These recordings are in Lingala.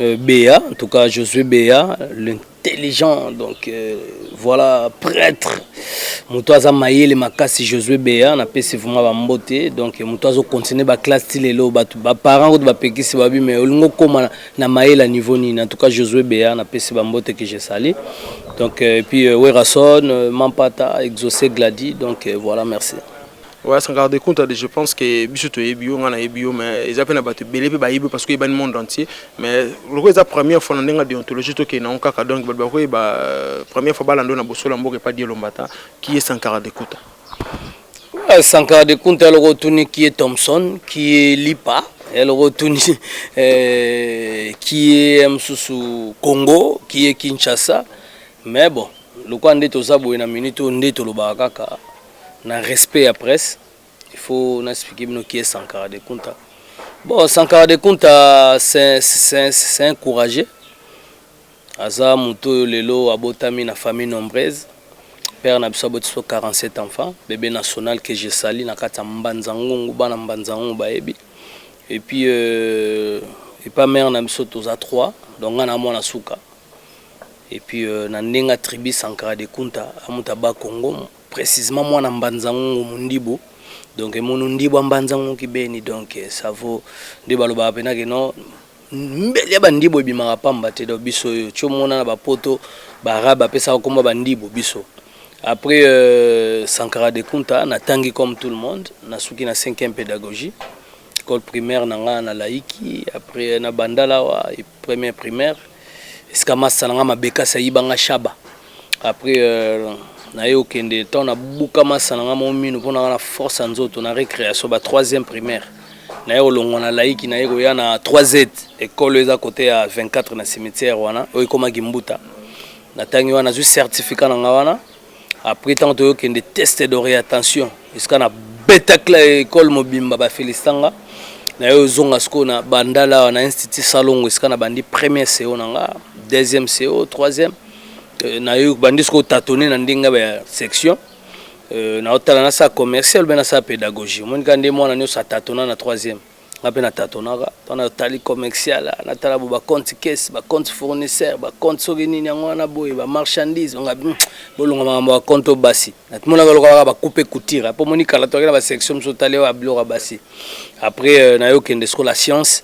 Euh, Béa, en tout cas Josué Béa, l'intelligent, donc euh, voilà, prêtre. moto aza mayele makasi josue bea napesi vraimen bambote donc moto azokontinue baklasse ti lelo bato baparent kutu bapekisi babi mai olingi okóma na mayele ya niveau nini en tout cas josue bea napesi bambote que je sali donc euh, epuis euh, werason euh, mampata exaucé gladi donc voilà merci Ouais, Sankara de Kunta, je pense que biso toyebi yo, nga nayebi yo, mais eza pe na bato ebele pe bayebi parce que oyebani monde entier. Mais lokola eza première fois na ndenge ya deontologie tokende nango kaka, donc bato bakoyeba euh, première fois balanda yo na bosolo ya mboka epa Dieu Lombata, qui est Sankara de Kunta. Ouais, Sankara de Kunta eloko otuni qui est Thompson, qui est Lipa, eloko otuni euh, qui est mosusu Congo, qui est Kinshasa. Mais bon, lokola nde toza boye na minute oyo nde tolobaka kaka na respect ya presse il faut na expliquer bino qui est Sankara de Kunta bon Sankara de Kunta c'est c'est un courageux aza moto oyo lelo abotami na famille nombreuse père na biso aboti biso 47 enfants bebe national que je sali na kati ya mbanza ngungu bana mbanza ngungu bayebi et puis euh, epa mare na biso toza 3 donc nga na mwana suka et puis euh, na ndenga tribu Sankara de Kunta amuta ba Congo précisément mwana Mbanzangungu Mundibu donc emonu Ndibu Mbanzangungu kibeni donc euh, ça vaut nde balobaka pena ke non mbele ya bandibu ebimaka pamba te donc biso oyo tio mona na bapoto baarabe bapesaka komba bandibu biso après euh, Sankara de Kunta natangi comme tout le monde nasuki na 5e pédagogie école primaire na nga na laiki après na bandalawa et Première primaire, esika masta na nga Mabekasi ayiba nga Shaba. Après euh, naye okende ntango nabuka masta na nga mo mino mpo na nga na force ya nzoto na récréation ba troisième primaire naye kolongwa na laiki naye koya na 3z ekolo eza kote ya 24 na cimetière wana oyo ekomaki mbuta natangi wana nazwi certificat na nga wana après ntango toyokende test d'orientation esika na betakla ekole mobimba bafelisitanga naye ozonga sikoyo na bandala awa na institut salongo esika na bandi premier co na nga deuxième co troisième euh, naye bandi sikoyo tatone na ndenge ya section euh, naotala nasala commercial mpe nasala pédagogie omoni kaka nde mwana nyonso atatona na troisième nga mpe natatonaka mpo natali commercial natala bo bacompte caisse bacompte fournisseur bacompte soki nini yango wana boye bamarchandise nga hmm, bolonga makambo ya compte oyo basi namonaka lokalaka bacoupe couture mpo moni kala toyaki na basection mosusu otali oyo abiloko ya basi après euh, naye okende siko la science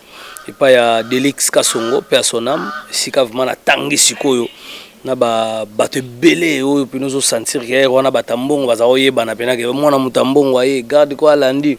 epai ya delix kasongo mpe ya sonam esika vraimen natangi sikoyo na bato ebele oyo mpena ozosentir ke wana bato ya mbongo baza koyebana mpenake mwana moto ya mbongo aye garde ko alandi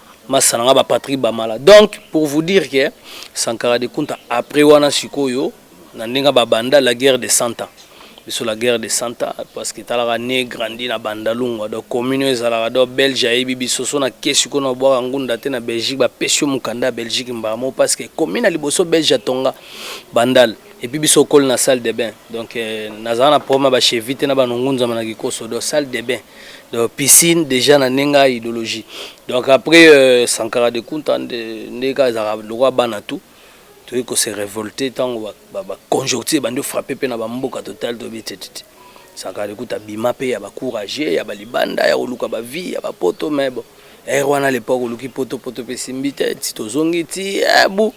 masa na nga ba Patrick Bamala donc pour vous dire que Sankara de Kunta après wana sikoyo na ndenge babanda la guerre de Santa biso la guerre de Santa parce que talaka ne grandi na Bandalungwa donc commune ezalaka donc belge ayebi biso so na ke sikoyo na bwaka ngunda te na Belgique bapesi yo mokanda ya Belgique mbala moko parce que commune ya liboso belge atonga Bandal et puis biso okoli na salle de bain donc euh, nazala na problème ya bachevite na banongunzama na kikoso donc salle de bain donc piscine déjà na ndenge ya idéologie donc après euh, sankara de kunta nde kaka ezalaka lokwa bana tout toyei kose révolte ntango baconjoncture ba, ba bandi frappe mpe na bamboka total toyebi tetete sankara de kunta bima mpe ya bacourage ya balibanda ya koluka bavie ya bapoto mais bon ere wana lepoke oluki potopoto mpe simbi te ti tozongi ti ebu eh,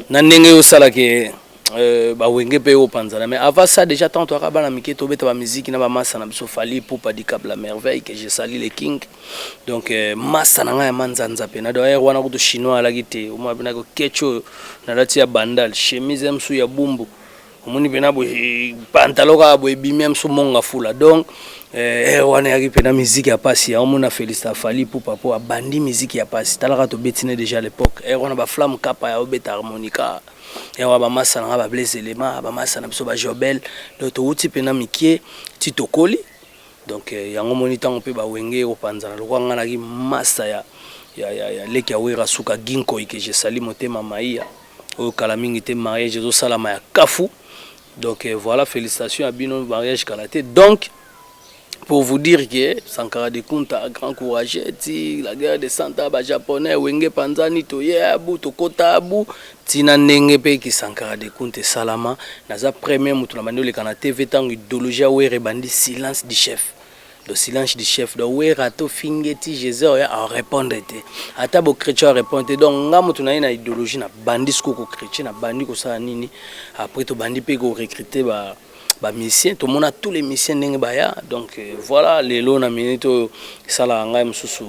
na ndenge yo sala ke euh, ba wenge pe opanzana mais avant ça déjà tant toaka bana mike tobeta ba musique na ba massa na biso fali pupa dicap la merveille que je sali le king donc euh, massa na ngai ya manzanza pe na d'ailleurs wana kutu chinois alaki te omwa pe na ko ketch oyo nalati ya bandal chemise msu ya bumbu omoni mpena boye pantalo kaka boye ebimi amso monga fula donc eh, eh, wana eyaki mpena miziki ya mpasi yango mona féliste afali pupa mpo abandi miziki ya mpasi talaka tobetine déjà l'époque eh, wana baflamme kapa ya obeta harmonica yango bamasa na ngai bablaise elema bamasa na biso bajobel donc towuti mpena mikie ti tokoli donc yango moni ntango mpe bawenge ekopanzana lokwa ngai naki masa ya, ya, ya, ya leki ya wera suka ginkoike jesali motema maiya oyo kala mingi te mariage ezosalama ya kafu donc euh, voilà félicitation ya bino mariage kala te donc pour vous dire que sankara de kunta grand courage ti la guerre de santa bajaponais wenge panzani toye abu tokota abu ntina ndenge mpe kisankara de kunta esalama naza premier moto na bandi oleka na tv ntango idéologie ya were ebandi silence du chef le silence du chef donc wera to fingeti jesus oya a répondre te ata bo chrétien répondre te donc nga mutu na ye na idéologie na bandi siko ko chrétien na bandi kosala nini après to bandi pe ko recruter ba ba musicien tomona tous les musiciens ndenge baya donc euh, voilà lelo na minute oyo esalaka ngai mosusu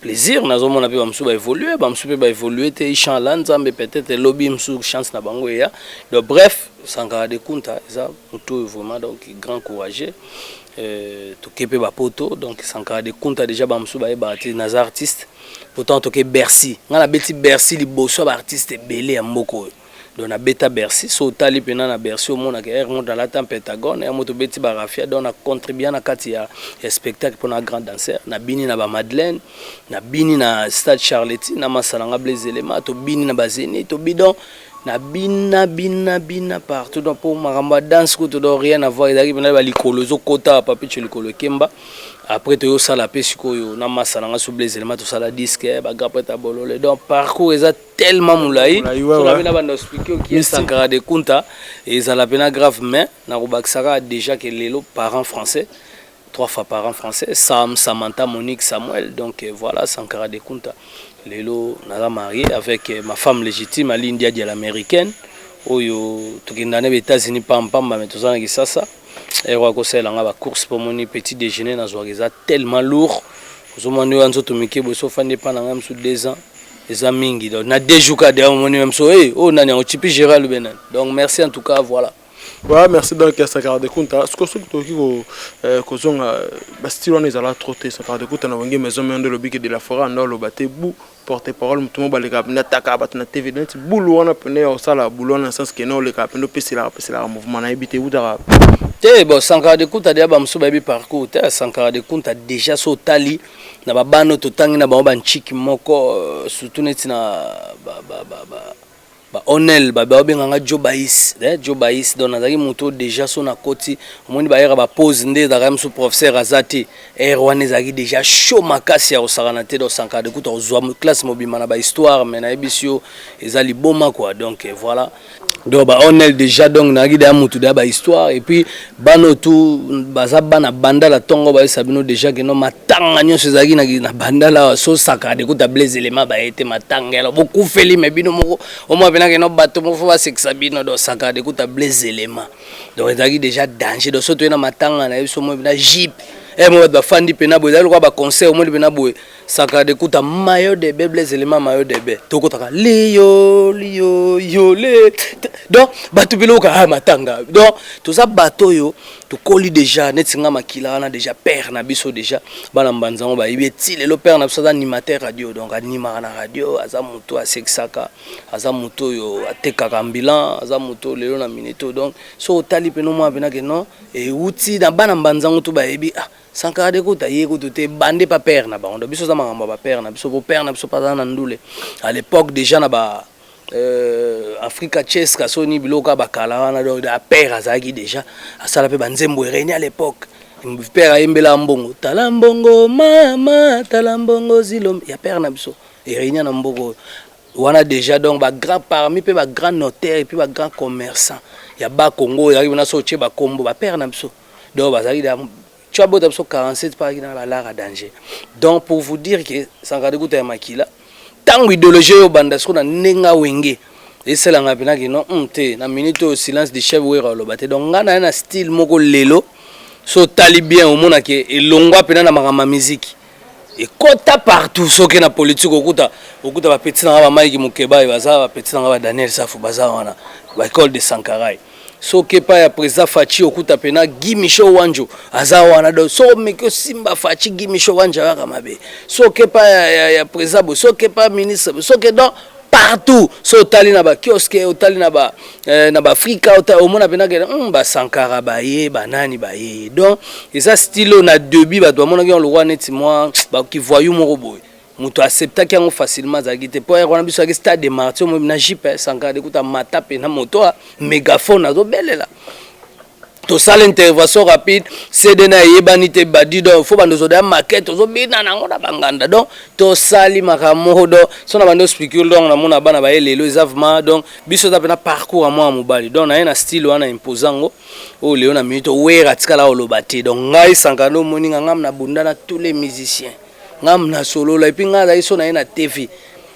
plaisir nazomona mpe bamosusu baévolue bamosusu mpe baévolue te ichan la nzambe peut-être elobi mosusu chance na bango eya donc bref sankara de kunta eza motu oyo vraiment donc grand courageux Euh, toke mpe bapoto donc sankara de kunta déjà bamosusu bayebaka te naza artiste pourtant toke bercy ngai nabeti bercy liboso ya baartiste ebele ya mboka oyo donc nabeta bercy so otali mpena na bercy omonaka air moto alata pentagone air moto obeti barafia donc na contribua na kati ya, ya spectacle mpo na grand dancer nabini na bamadeleine nabini na stade charleti na masalanga blaise elema tobini na bazeni tobi donc na bina bina bina partout donc pour makambo ya danse kutu donc rien avoir ezalaki mpena ba likolo ezokota papicho likolo ekemba après toyosala mpe sikoyo na masa na nga so blaise elema tosala disque bagrapret ya bolole donc parcours eza tellement molai soki na banda explike okie sankara de kunta ezala mpena grave mais nakobakisaka déjà ke lelo parent français trois fois par an français Sam, Samantha, Monique, Samuel. Donc euh, voilà, Sankara de Kunta. Lelo, naza marié avec euh, ma femme légitime, Ali India de l'américaine. Oyo, tokenda na États-Unis pam pam, mais tous na kisasa. Et roi conseil nga ba course pour mon petit déjeuner na zwa eza tellement lourd. Ozomwa ndio anzo tumike boso fande pa na ngam sous 2 ans. Eza mingi donc na deux jours ka de mon même so hey, oh nani on chipi Gérald Benan. Donc merci en tout cas voilà. Voilà, merci donc ya Sakara de Kunta. Ce que ce que tu as ko zonga ba style on est là trop tôt Sakara de Kunta na wenge maison mais on le bique de la forêt on le batte bou porte parole mutu mo baleka na taka batu na TV net boulou wana pene au sala boulou na sens que non le cap no pesi la pesi la mouvement na ebite uta te bon Sankara de Kunta dia ba musu ba bi parcours te Sankara de Kunta déjà so tali na ba bano to tangi na ba ba nchiki moko surtout net na ba ba ba, ba Ba onel ba ba benga nga Jobais, eh Jobais donc nazalaki moto oyo deja so nakoti omoni ba heure ba pause nde ezalaka mosusu professeur aza te heure wana ezalaki deja chaud makasi ya kosakana te donc sankara de kuta kozwa mo- classe mobimba na ba histoire mais nayebisi yo eza liboma quoi donc eh, voilà donc ba onel deja donc nayaki deja moto deja ba histoire et puis Bana oyo tu baza bana bandala tongo bayebisa bino deja ke no matanga nyonso ezalaki na, na bandala awa so saka de kuta blaise elema baye te matanga yalo bokufeli me bino moko omwa pena ke no bato moko fo basekisa bino do saka de kuta blaise elema donc ezalaki deja danger donc so toye na matanga na ye biso omoi pena jipe eh, mo bato bafandi pena boye ezali lokola baconseil omoni pena boye Sacre de Kuta, maillot de baie, Blaise Elema, maillot de baie. Tokotaka liyo liyo yo le. Donc bato biloka ah matanga. Donc toza bato oyo tokoli déjà neti nga makila wana déjà père na biso déjà bana mbanza ngo bayebi eti lelo père na biso aza animateur radio donc animaka na radio aza moto asekisaka aza moto oyo atekaka ambulant aza moto lelo na minute donc so otali mpe nomwa mpenake non euti na bana mbanza ngo to bayebi ah Sankara de kutu aye kutu te bande pa père na bango donc biso za makambo ya ba père na biso po père na biso pa za na ndule à l'époque déjà na ba euh, Africa Chess Kasoni biloko ya bakala wana donc da père azalaki déjà asala pe ba nzembo ereni à l'époque père ayembela mbongo tala mbongo mama tala mbongo zilo ya père na biso ereni na mboko wana déjà donc ba grand parmi pe ba grand notaire et puis ba grand commerçant ya ba Congo ya na so che ba kombo ba père na biso donc bazalaki da tu as bota biso 47 pas na ba lara danger donc pour vous dire que sankara dekuta ya makila tango idéologie yo banda siko na ndenga wenge esala nga pena que non hum, te na minute oyo silence de chef wera oloba te donc nga na na style moko lelo so tali bien omona que elongwa pena na makambo ya musique ekota partout soki na politique okuta okuta ba petit na ba Mike Mukebayi baza ba petit na ba Daniel Safu baza wana ba école de Sankarai soki pa ya président Fatshi okuta pena Guy Michel Wanjo aza wana donc so meki osimba Fatshi Guy Michel Wanjo ayaka mabe soki pa ya, ya, ya président bo soki pa ministre bo soki donc partout so otali na ba kioske otali na ba eh, na baafrika omona mpena ke mm, basankara baye banani baye donc eza stilo na debut bato bamonaki yango lokola neti mwa bakivoyu moko boye moto aceptaki yango facilement azalaki te mpo wana biso yaki stade de martir na jipe eh, sankara dekuta mata mpe na moto a megaphone azobelela tosala intervention rapide cd na eyebani te badi donc fo bando ozoda maquette ozobina nango na banganda donc tosali makambo moko donc so na bando spicule donc namona bana baye lelo eza vrma donc biso eza mpena parcours ya mwana mobali donc naye na style wana impose yango oyo oh, lelo na minute owera atikala oloba te donc ngai sankanda omoni nga ngam na bunda na tous les musiciens ngam na solola epuis ngai azali so naye na tv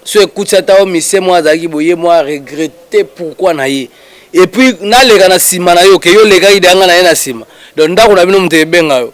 so ekuti ata yo misie mwa azalaki boye mwa regrete pourkui na ye epuis naleka na nsima na yo ke yo olekaki deya ngai na ye na nsima donc ndako na bino moto ebenga yo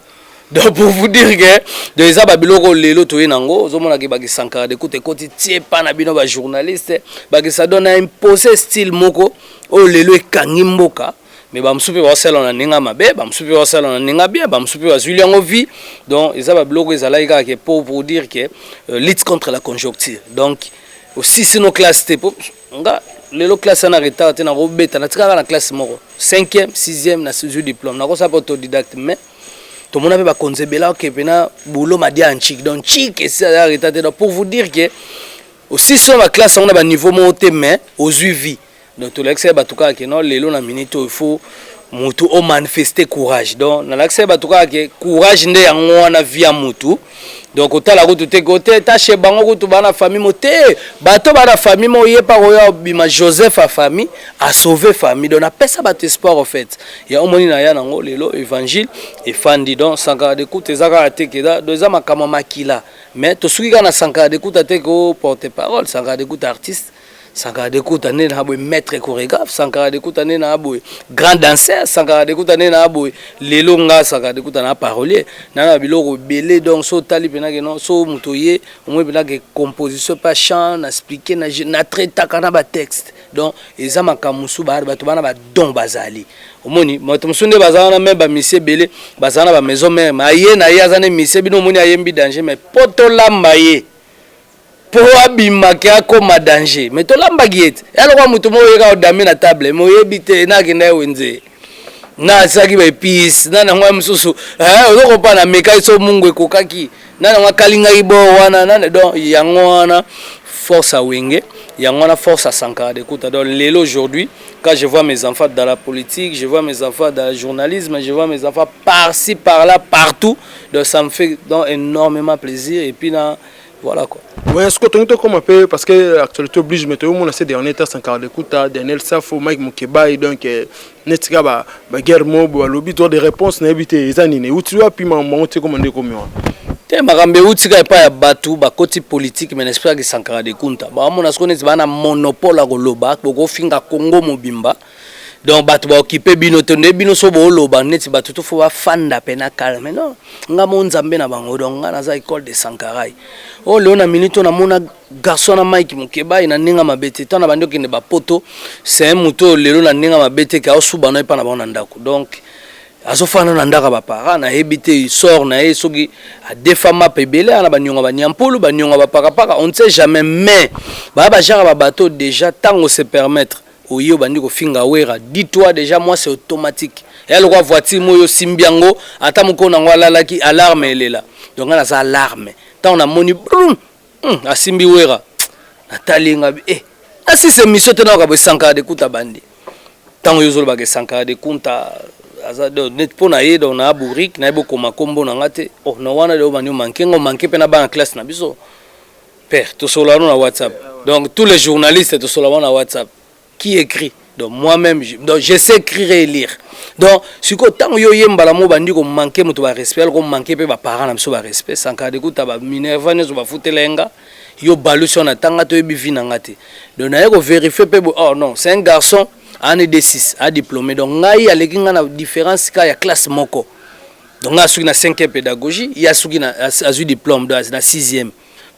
donc pour vous dire ke donc eza babiloko lelo toye na yango ozomona ke bakisankara de kuta ekoti tie pa na bino bajournaliste bakisa don na impose style moko oyo lelo ekangi mboka mais ba musupe ba sala na ninga mabe ba musupe ba sala na ninga bien ba musupe ba zuili yango vie donc eza ba biloko ezalaki kaka ke pour pour dire que euh, lutte contre la conjoncture donc aussi sino classe te po nga lelo classe na retard te na ko beta na tikaka na classe moko 5e 6e na suzu diplôme na ko sa autodidacte mais to mona pe ba konzebela ke pena boulot ma dia chic donc chic et ça a retard donc pour vous dire que aussi sur la classe on a ba niveau moko te mais aux vie donc tolakisa ye bato kaka ke non lelo na minute oyo faut motu o manifeste courage donc nalakisa ye bato kaka ke courage nde yango wana vi ya motu donc otala kutu te ke ote tashe bango kutu baa na famille mo te bato baa na famille mo ye mpa koya obima joseph a famille asauve famille donc napesa bato espoir au fait ya omoni na ya nango lelo évangile efandi donc sankara de kuta eza kaka te ke donc eza makambo ya makila mais tosuki kaka na sankara de kuta te ke o porte parole sankara de kuta artiste Sankara Dekuta nde na boye maître chorégraphe, Sankara Dekuta nde na boye grand danseur, Sankara Dekuta nde na boye lelo nga Sankara Dekuta na parolier, na na biloko belé donc so tali pena ke non so moto ye omwe pena ke composition pa chant na expliquer na na traitaka na ba texte donc eza makambo mosusu ba bato bana ba don bazali omoni moto mosusu nde baza wana me bamisi ebele baza na bamaison mare me aye na ye aza nde misi bino omoni ayembi danger me po tolamba ye po abima ke akoma danger mais tolambaki ye te ya lokola moto moko oyeka odame na table mais oyebi te na akenda ye wenze na asalaki ba epice na nango ya mosusu eh, ozokopa na mekaki so mungu ekokaki na nango akalingaki bo wana na donc yango wana force à Wenge, Yangwana force à Sankara de Kouta. Donc, Lélo aujourd'hui, quand je vois mes enfants dans la politique, je vois mes enfants dans le journalisme, je vois mes enfants par-ci, par-là, partout, donc ça me fait donc, énormément plaisir. Et puis, là, Voilà quoi. Ouais, ce que tu comme un peu parce que l'actualité oblige, mais tu as mon assez dernier temps, c'est encore d'écouter Daniel Safo, Mike Mukeba, et donc, euh, Netika, bah, bah, guerre mob, bah, lobby, toi, des réponses, n'a évité, les années, où tu as pu m'en monter comme un décommun. te makambo euti kaka epai ya bato bakoti politike me naespiraki sankara de kunta bakamona soko neti baa na monopole ya koloba bokofinga congo mobimba donc bato baokipe bino te nde bino so booloba neti bato to fo bafanda mpe na calme non nga mo nzambe na bango donc nga naza école de sankarai oyo oh, leo na minute oyo namona garçon na mike mokebai na ndenge mabe te ntango na bandi okende bapoto se moto oyo lelo na ndenge mabe te ke aosuba no epai na bango na ndako donc azofanda na ndako ya baparent nayebi te sor na ye soki adefa mapa ebele ana banionga banyampulu banionga bapakapaka on ne sait jamais mais baya bajaka babato déjà ntango se permettre oye obandi kofinga wera dis toi dejà moi c'est automatique eya lokola voiture moi oyo osimbi yango ata mokolo na yango alalaki alarme elela donc ngai naza alarme ntango namoni brum hmm, asimbi wera natali ngai e eh, nasisi emission te nayoka boye sankara de kunta bandi ntango yo ozolobaka esankara de kunta aza net mpo na ye donc na bourrique nayebi okoma nkombo na ngai te oh na wana de obandi omanke ngai omanke mpe na bana classe na biso Père, tosololano na WhatsApp. Donc tous les journalistes tosololano na WhatsApp. Qui écrit Donc moi-même, je, donc je sais écrire et lire. Donc sikoyo ntango yo oye mbala moko bandi komanke moto barespect aloko manke mpe baparent na biso barespect sankara dekuta baminerva nyonso bafutela ye nga yo balusi wana ntanga toyebi vi na nga te donc naye koverifie mpe boye oh non c'est un garçon ane d6 adiplome donc ngai aleki ngai na différence ka ya classe moko donc ngai asuki na 5e pédagogie ye asuki azwi diplome donc na 6e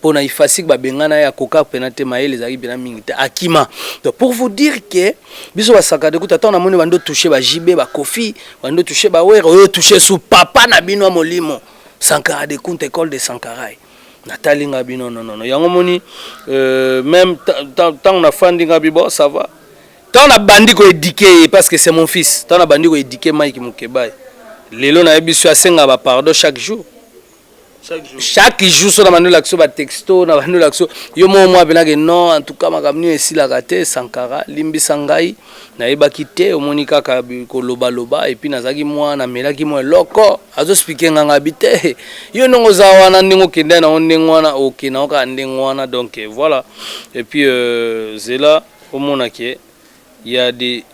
pona ifasic ba bengana ya koka pena te mayele ezalaki pena mingi te akima donc pour vous dire que biso ba sakade kuta tant na moni bando toucher ba JB ba Kofi bando toucher ba Were oyo toucher sous papa na bino molimo Sankara de Kunta école de Sankarai natali nga bino non non yango moni euh, même tant na fandi nga bibo ça va tant na bandi ko éduquer parce que c'est mon fils tant na bandi ko éduquer Mike Mukebayi lelo na yebi biso asenga ba pardon chaque jour chaque jour so na bandi olakisa yo batexto na bandi olakisa yo moko mwa abenake non en tout cas makambo nini esilaka te sankara limbisa ngai nayebaki te omoni kaka kolobaloba epuis nazalaki mwa namelaki mwa eloko azospike nga ngai bi te yo ndenge oza wana ndenge okenda nango ndenge wana okenda yango kaka ndenge wana donc euh, voilà epuis euh, zela omona ke ya de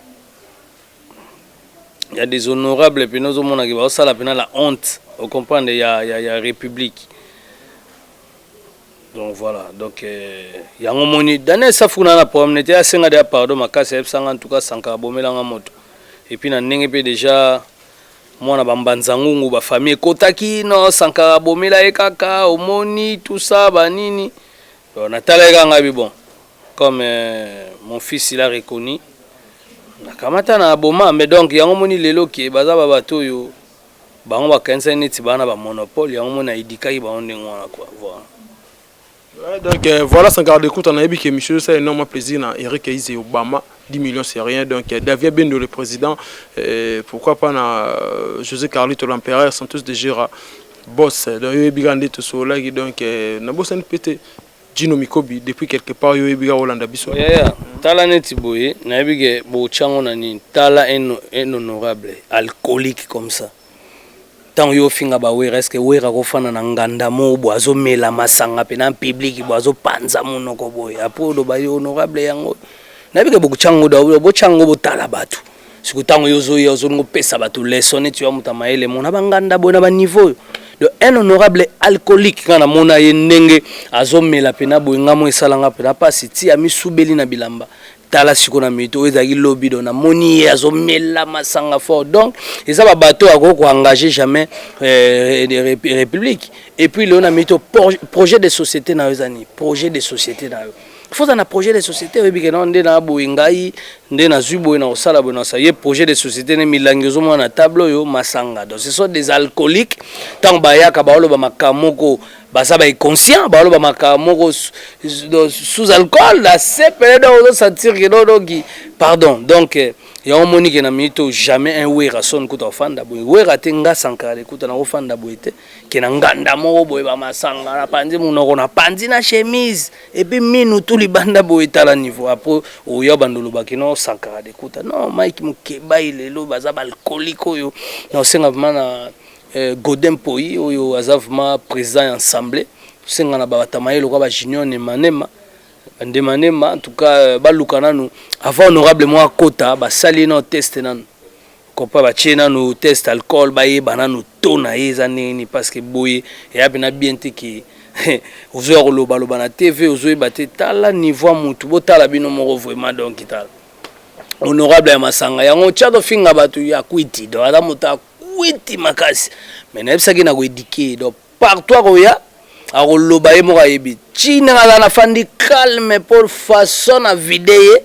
ya deshonorable pena ozomona ke baosala pena la honte ocomprendre ya, ya, ya république donc voilà donc euh, yango moni daniel safuna na problème nete asenga deya pardon makasi ayebisanga en tout cas sankara bomelanga moto epuis na ndenge mpe déjà mwana bambanza ngungu bafamille ekotaki no sankara bomela ye kaka omoni tout ça banini Bon, natalaki kaka ngai bi bon comme euh, mon fils il a reconnu nakamata na boma mais donc yango moni lelo ke baza ba bato oyo bango bakanisaki neti baa na bamonopole yango moni naidikaki bango ndenge wana kua voilà Ouais, donc euh, voilà sans garde écoute on a que monsieur ça énormément plaisir na Eric Aise et Obama 10 millions c'est rien donc euh, Davia Bendo le président euh, pourquoi pas na euh, José Carlito l'empereur Santos de Gera Boss, donc yo oyebi kaka nde tosololaki donc euh, nabosani mpe te Gino Mikobi depuis quelque part yo oyebi kaka olanda biso. Yeah, yeah. Tala neti boye, nayebi ke bochango na nini. Tala un, un honorable alcoolique comme ça. Tango yo finga ba wera, est-ce que wera ko fana na nganda mo bo azo mela masanga pe na public bo azo panza monoko boye. Après oloba yo honorable yango. Nayebi ke bochango da bochango botala batu. siko ntango yo ozoya ozolinga opesa bato leson neti yo amuta mayele mona banganda boye na baniveau donc un honorable alcoolique nga namona ye ndenge azomela mpena boye nga mo esala nga mpena mpasi ti amisubeli na bilamba tala siko na mito oyo ezalaki lobi do namoni ye azomela masanga fort donc eza babato oyo akoki koengage jamais euh, république et puis leo na mito projet de société na yo eza nini projet de société na yo faut ozala na projet de société oyebi ke nao nde na boye ngai nde nazwi boye na kosala boye nasa ye projet de société nde milangi ozomona na table oyo masanga donc ce sont des alcooliques ntango bayaka baoloba makambo moko baza bainconscient baoloba makambo moko sous alcool na sepele donc ozosentir ke dodoki pardon donc euh, yango omoni ke na minute oyo jamais un wera son kuta ofanda boye wera te nga sankara kuta nakofanda boye te ke na nganda moko boye bamasanga napanzi monoko napanzi na chemise epuis minu tu libanda boye etala niveau apo oya bando olobaki no sankara dekuta no mike mokebai lelo baza baalkolike oyo na osenga vraimen na eh, godin poi oyo aza vraimen président ya ensemble tosenga na babatamaye lokola bajunior nemanema bandemanema en tout cas euh, baluka nanu avant honorable moko akota basali nao teste nanu Copa ba tie nanu test alcool ba yeba nanu taux na ye eza ndenge nini parce que boye eya pena bien te ke ozo ya koloba loba na TV ozo yeba te tala niveau ya mutu bo tala bino moko vraiment donc tala honorable ya masanga yango tia to finga batu ya kwiti donc aza mutu ya kwiti makasi mais na yebisaki na ko éduquer donc Partout akoya akoloba ye moko ayebi ti ndenge aza na fandi calme po façon na vide ye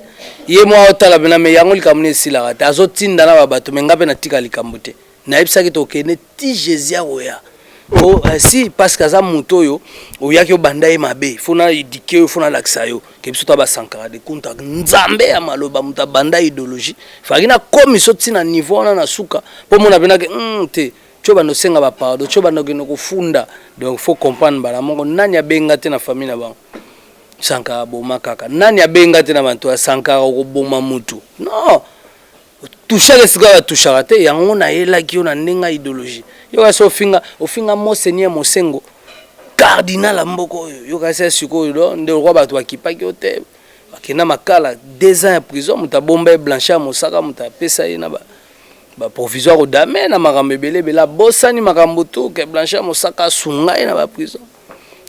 ye moko aotala pena mais yango likambo nini esilaka te azotinda na ba bato mais nga pe natika likambo te nayebisaki tokende ti jesus akoya po eh, si parce que aza moto oyo oyaki obanda ye mabe fo na edike yo fo nalakisa yo ke biso ta basankara de kunta nzambe ya maloba moto abanda idologie faki nakomi so ntina niveau wana na suka po mona penake mm, te Tsho banda osenga ba pardon, tsho banda okende kofunda. Donc faut comprendre mbala moko nani abenga te na famille na bango. Sankara aboma kaka. Nani abenga te na bantu ya Sankara okoboma mutu. Non. Touchaka esika ba touchaka te, yango na yelaki yo na ndenga ideologie. Yo kasi ofinga, ofinga Monseigneur Mosengo. Cardinal ya mboka oyo. Yo kasi sikoyo do nde okwa batu bakipaki yo te. Bakenda makala 2 ans ya prison, mutu abomba ye Blanchard Mosaka mutu apesa ye na ba ba provisoire odame na makambo ebele ebele abosani makambo tu ke blanche mosaka asunga ye na ba prison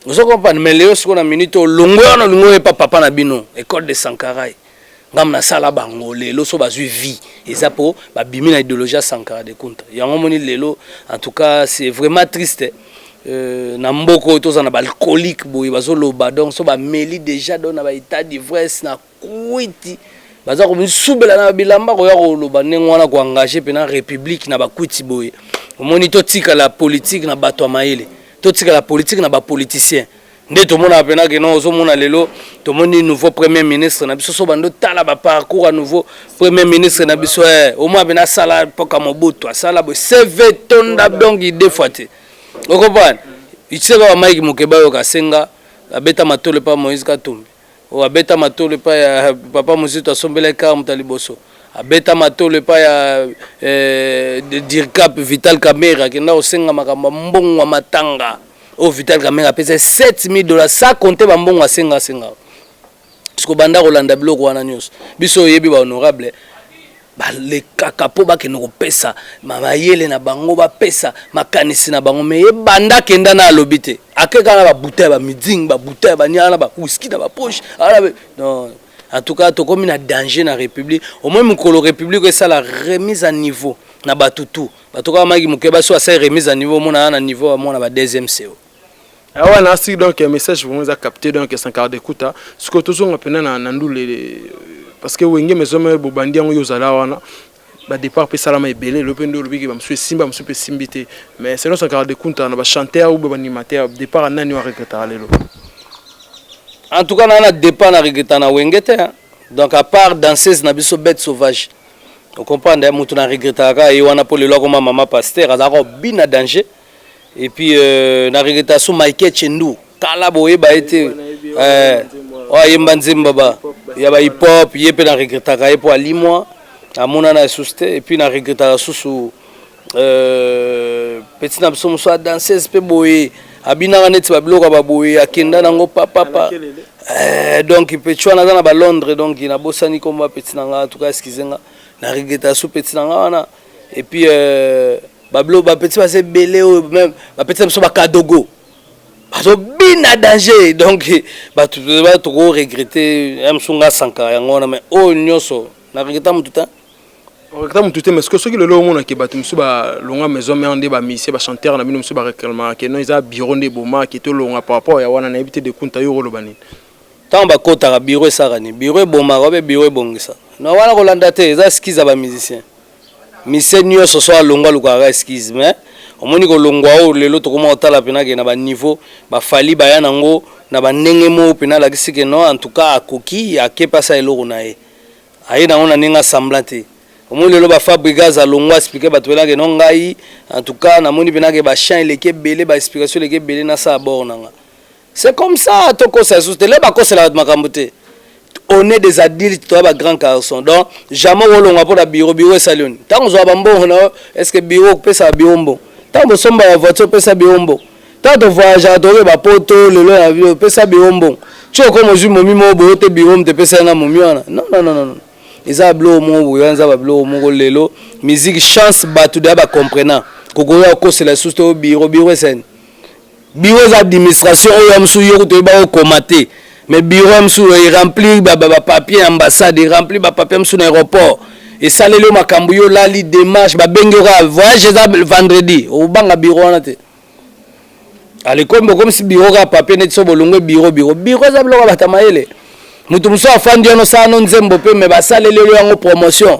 ozo comprendre mais leo sikoyo na minute olongwe wana olingi oyepa papa na bino ecole de sankarai ngambo nasala bango lelo so bazwi vie eza mpo babimi na idéologie ya sankara de kunta yango omoni lelo en tout cas c'est vraiment triste Euh, na mboka oyo tozala na baalcoolique boye bazoloba donc so bameli déjà donc na baétat d'ivresse na Kuiti baza komisubela na bilamba koya koloba ndenge wana koengage mpena république na bakuiti boye omoni totikala politike na bato ya mayele totikala politike na bapoliticien nde tomonaka mpena keno ozomona lelo tomoni nouveau premier ministre na biso so bando tala baparcours ya nouveau premier ministre na biso e omona mpena asala mpoka mobutu asala boye cv tonda donc ide fois te okompane itisaka bamaiki moke bayoka asenga abeta matolo epa moïse katumbi oyo abeta matolo epai ya papa Muzito asombelaki kaka moto ya liboso abeta matolo epai ya eh, dircap vital kamere akenda kosenga makambo ya mbongo ya matanga oyo vital kamere apesa 7000 dollars sa konte bambongo asenga asenga siko banda kolanda biloko wana nyonso biso oyebi bahonorable balekaka mpo bakende kopesa mayele na bango bapesa makanisi na bango me ye banda akenda na alobi te Ake kaka na ba bouteille ba miding ba bouteille ba niana ba whisky na ba poche ala ah, non en tout cas tokomi na danger na république au moins mokolo république esala remise à niveau na bato tout bato kaka maki moke baso asali remise à niveau omona na niveau ya mwana ba deuxième seo Eh, wana asi donc eh, message vraiment eza capté donc eh, sankara dekuta sikoyo tozonga mpena na ndule parce que wenge mezome bobandi yango yo ozala wana ba départ pe salama ebele lope ndo lobi ke ba musu esimba musu pe simbi te mais selon son caractère kunta na ba chanteur ou ba animateur départ nani wa regretter lelo en tout cas na na départ na regretter na wenge te hein? donc à part danseuse na biso bête sauvage au comprendre hein? mutu na regretter ka ye wana po lelo akoma maman pasteur azaka obina danger et puis euh, na regreta so Michael Chendu kala boyeba ye te euh, oyo ayemba nzemba ba ya ba hip hop ye mpe na regretaka ye mpo alimwa amonana esusu te et puis na regretaka susu euh, petit na biso mosusu adanseuse mpe boye abinaka neti babiloko ya baboye akenda nango papapa euh, donc petit wana aza na balondre donc nabosani nkombo ya petit na ngai tuka eskize nga na regreta susu petit na ngai wana et puis euh, bablo bapeti baza ebele oyo meme bapeti na biso bakadogo bazobina danger donc bato toko regrete ya mosu nga sankara yango wana mai oyo nyonso na regreta motu te regreta motu te parce que soki lelo omonake bato mosusu balonga maison mare nde bamisie bachanteur na bino mosusu bareclamaka ke non eza bureau nde ebomake tolonga par rapport ya wana nayebi te dekunta yo oloba nini Tango ba kotaka bureau esaka nini? Bureau ebomaka obe bureau ebongisa? Non wana ko landa te eza excuse ya ba musicien. Musicien nioso soki alongwe alukaka kaka excuse mais omoni ko longwa oyo lelo tokoma ko tala pena ke na ba niveau ba Fally baya nango na ba ndenge moko pena alakisi ke non en tout cas akoki ake pe asala eloko naye. Aye nango na ndenge ya semblant te. Omoni lelo ba Fabrigaz alongwe a explique batu pena ke non ngai en tout cas namoni pena ke ba chants eleki ebele ba explication eleki ebele nasala bord nanga. C'est comme ça tokosa lisusu te lelo bakosela bato makambo te on est des adultes toza ba grand garçon donc jamais okolongwa mpo na biro biro esali oni ntango ozwa bambongo na yo est ce que biro okopesa biro mbongo ntango bosomba ya voiture opesa biro mbongo ntango tovoyageaka toke bapoto lelo na biro opesa biro mbongo ti okoma ozwi momi moko boyo te biro moto epesai nga momi wana non non non non eza babiloko moko boye wana eza babiloko moko lelo musique chance bato deya bacomprenant kokoya okosela lisusu te o biro biro esani Bureau eza administration oyo amsu yo kutu oyeba ko koma te mais bureau amsu e remplir ba ba papier ambassade e remplir ba papier amsu na aéroport esaleli yo makambo yo lali démarche ba bengi yo kaka voyage eza vendredi obanga bureau wana te alekombo comme si bureau kaka papier neti so bolongwe bureau bureau bureau eza biloko ya bata mayele moto mosusu afandi wana osala no nzembo mpe me basaleli yo yango promotion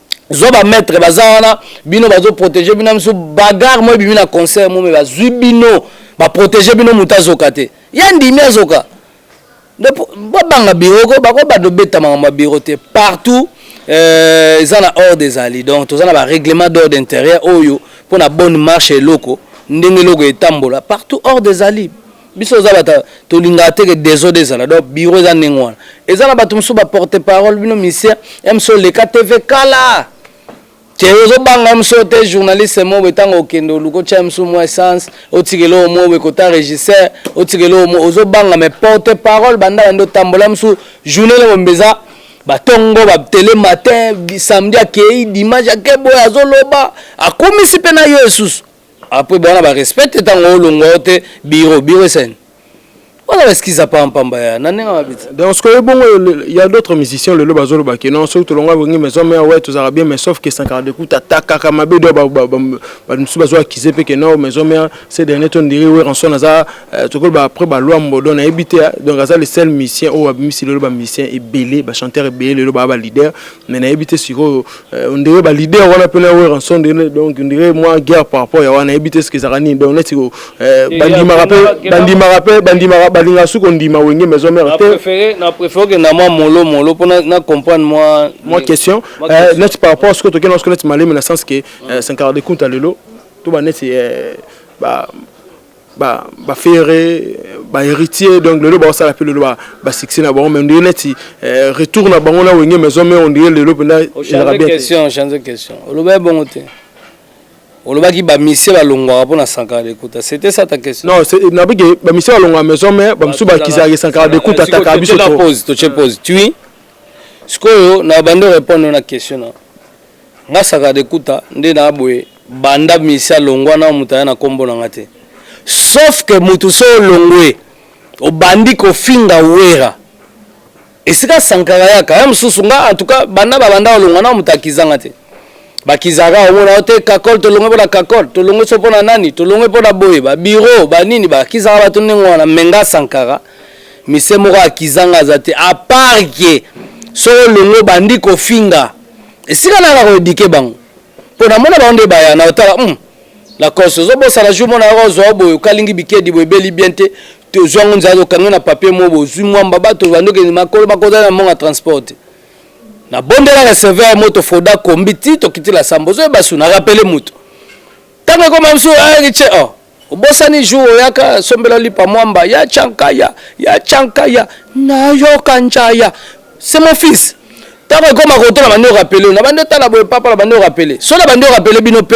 zwa ba maître baza wana bino bazo protéger bino misu bagarre moi bimi na concert mo mais bazwi bino ba protéger bino moto azoka te ya ndimi azoka babanga biro ko bako bado beta makambo ya biro te partout euh, eza na ordre ezali donc toza na ba règlement d'ordre intérieur oyo mpo na bonne marche eloko ndenge eloko etambola partout ordre ezali biso oza bata tolingaka te ke desode ezala donc biro eza ndenge wana eza na bato mosusu baporte parole bino misie mso oleka tv kala te ozobanga mso te journaliste mobo ntango okende oluka otya mso mwa essence otikela oyo mobo ekota regisseur otikela oyo mo ozobanga me porte parole banda bande otambola mso journée le mombe eza batongo batele matin samedi akei dimanche akeboye azoloba akumisi mpe na yo esusu Après bon na ba respect te tango olongwa yo te bureau bureau esani. Wana ba skiza pa mpamba ya na ndenge mabiti. Donc ce que bongo il y a d'autres musiciens le loba zolo baki non soki tolongwa bongi mais homme ya ouais tozaka bien mais sauf que sankara de kuta takaka mabe do ba ba ba musu bazo accuser pe que non mais homme ya ces derniers temps dirait ouais ranson aza euh, tokol ba après ba loi mbodo na ebite donc aza le seul musicien ou abimisi le loba musicien ebele ba chanteur ebele le loba ba leader mais nayebi te sikoyo euh, ondire ba leader wana mpe na weranson de donc ondire mwa guerre par rapport ya wana nayebi te soki ezalaka nini donc neti euh, bandimaka mpe bandimaka mpe bandimaka balingaka soki kondima wenge maison mère te na préfère okenda mwa molo molo mpo na comprendre mwa mwa question euh, neti par rapport soki tokenda soki neti malemi na sens ke sankara de kunta lelo to baneti ba ba ba ferre ba héritier donc lelo ba sala pe lelo ba ba succès na bango mais ndiye neti euh, retour na bango na wenge maison mais on dirait lelo penda elaka bien question change question oloba bongo te olobaki bamisie balongwaka mpo na sankara dekuta c'était ça ta question non nabiki bamisie balongwaka maison mais bamosusu bakizalaki sankara dekuta ataka biso pose totie pose tui sikoyo na bande orépondre na question na Nga sakade kuta nde na boye banda misi alongwa nao mutu aya na kombo nanga te sauf que mutu so olongwe obandi kofinga werra esika sankara ayaka aya mususu nga en tout cas banda babanda olongwa nao mutu akizanga te bakizaka omona yo te kakol tolongwe pona kakol tolongwe so pona nani tolongwe pona boye ba bureau ba nini bakizaka bato ndenge wana me nga sankara mise moko akizanga aza te apart que so olongwe obandi kofinga esika naka ko eduquer bango mpo namona bango nde baya na otala hmm, lacoste ozobosana jour mona yako ozwa boye okalingi bikedi boye ebeli bien te tozwa yango nzala tokangi na papier moko bozwi mwamba bato bandokende makolo makozali na monga transport te nabondelaka serveur moto foda kombi ti tokiti la samba ozoyeba su na rapele moto ntango ekoma biso ayaki ah, ce oh. Obosani jour oyaka sombela lipa mwamba ya chankaya ya chankaya nayoka njaya c'est mon fils ntango ekoma kotala bandi orapele na bandi otala boye papa na bandi orapele so na bandi orapele bino mpe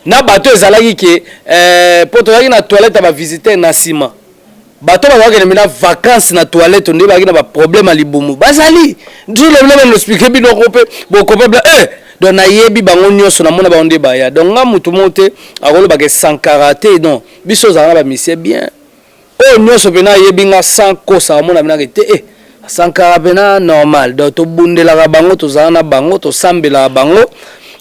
na bato ezalaki ke eh, mpo tozalaki na toilette ya bavisiteur na nsima Bato oyo bazalaki kende na vacances na toilette nde bazalaki na ba problème ya libumu bazali nzula ebele bana explique bino ko mpe bokopabla eh donc nayebi bango nyonso namona bango nde baya donc nga motu moko te akolobaka esankara te non biso ozala na bamisie bien oyo oh, nyonso mpena ayebi nga sans kosa amona mpena ke te eh sankara mpena normal donc tobundelaka bango tozala na bango tosambelaka bango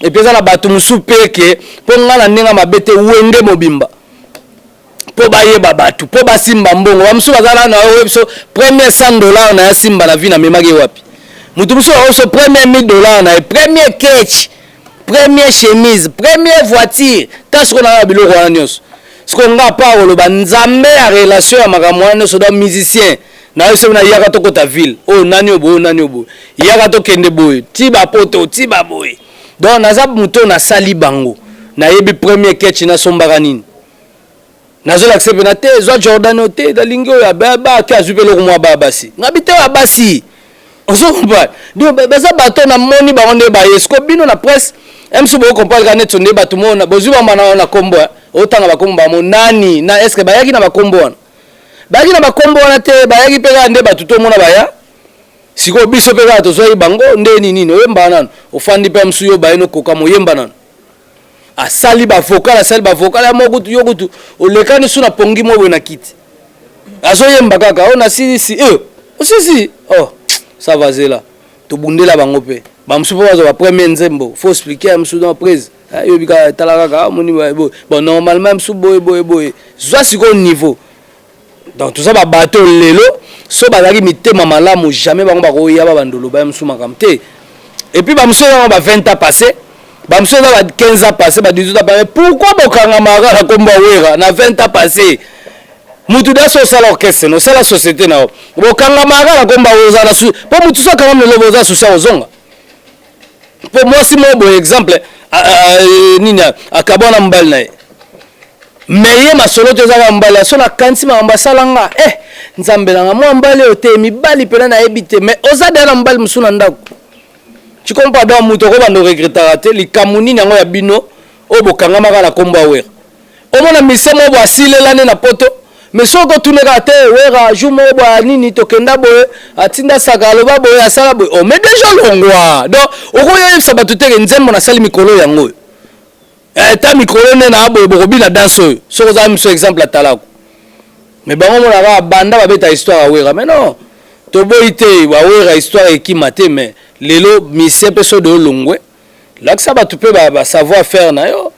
epuis eza na bato mosusu mpe ke mpo nga na ndenge mabe te wenge mobimba mpo bayeba bato mpo basimba mbongo bamosusu baza nano oyo biso premier 100 dollar na ya simba na vie namemaki ye wapi moto mosusu yango biso premier 1000 dollar na ye premier ketch premier chemise premier voiture ta sikoyo na ya biloko wana nyonso sikoyo nga pa koloba nzambe ya relation ya makambo wana nyonso da musicien na yo soki nayaka tokota ville oyo oh, nani oboye oh, nani oboye oh, yaka tokende boye ti bapoto ti baboye donc naza moto oyo nasali bango nayebi premier ketch nasombaka nini nazolakisa mpena te zwa jordan oyo te nalingi oyo abaki azwi mpe eloko mwa baya basi ngabi te ya basi ozo comprendre donc baza bato oyo namoni bango nde baye siko bino na presse msu boko comprendre kaka neti nde bato mona bozwi bambana wana na nkombo eh. otanga bakombo bango nani na eske bayaki na bakombo wana bayaki na bakombo wana te bayaki mpe kaka nde bato tomona baya Sikoyo biso pe kaka tozwaki bango nde ninini oyembaka nanu ofandi pe musu yo baye nokokama oyemba nanu asali ba vocal asali ba vocal ya mo kutu yo kutu olekani su na pongi mo boye na kiti azoyemba kaka oyo oh, nasilisi e eh, osisi oh sava zela tobundela bango pe bamosusu mpo bazwa bapremier nzembo fo explike ya mosusu na prise eh, yobi kaka tala kaka amoni ah, boye bon normalement ya mosusu boye boye boye zwa sikoyo niveau donc toza ba bato lelo so bazalaki mitema malamu jamais bango bakoya ba bandolo baya mosusu makambo te et puis bamosusu ezango ba 20 ans passé bamosusu eza ba 15 ans passé ba 18 ans passé pourquoi bokangamaka na kombo wera na 20 ans passé mutu da so osala orchestre no osala société na yo bokangamaka na kombo wera oza na mpo motu so akangami lelo boza susi akozonga mpo mwasi moko boye exemple nini akabwana mobali na ye me ye masolo to ezaka mobali ya so nakanisi makambo asala nga e eh, nzambe nanga mwa mobali oyo te mibali mpena nayebi te me oza deya na mobali mosusu na ndako cikompa donc moto okobanda oregretaka te likambo nini yango ya bino oyo bokangamaka na nkombo ya wera Omona musicien moko boye asilela nde na poto mais soki otune kaka te wera jour moko boye nini tokenda boye atinda saka aloba boye asala boye oh mais deja olongwa donc okoya oyebisa bato teke nzembo nasali mikolo yango oyo eh, ta mikolo nde na boye bokobina danse oyo soki ozala miso exemple atalako mais bango mona kaka banda babeta histoire ya wera mais non toboyi te bawera histoire ekima te mais lelo misie mpe sodo olongwe Lakisa batu pe ba, ba savoir faire na yo.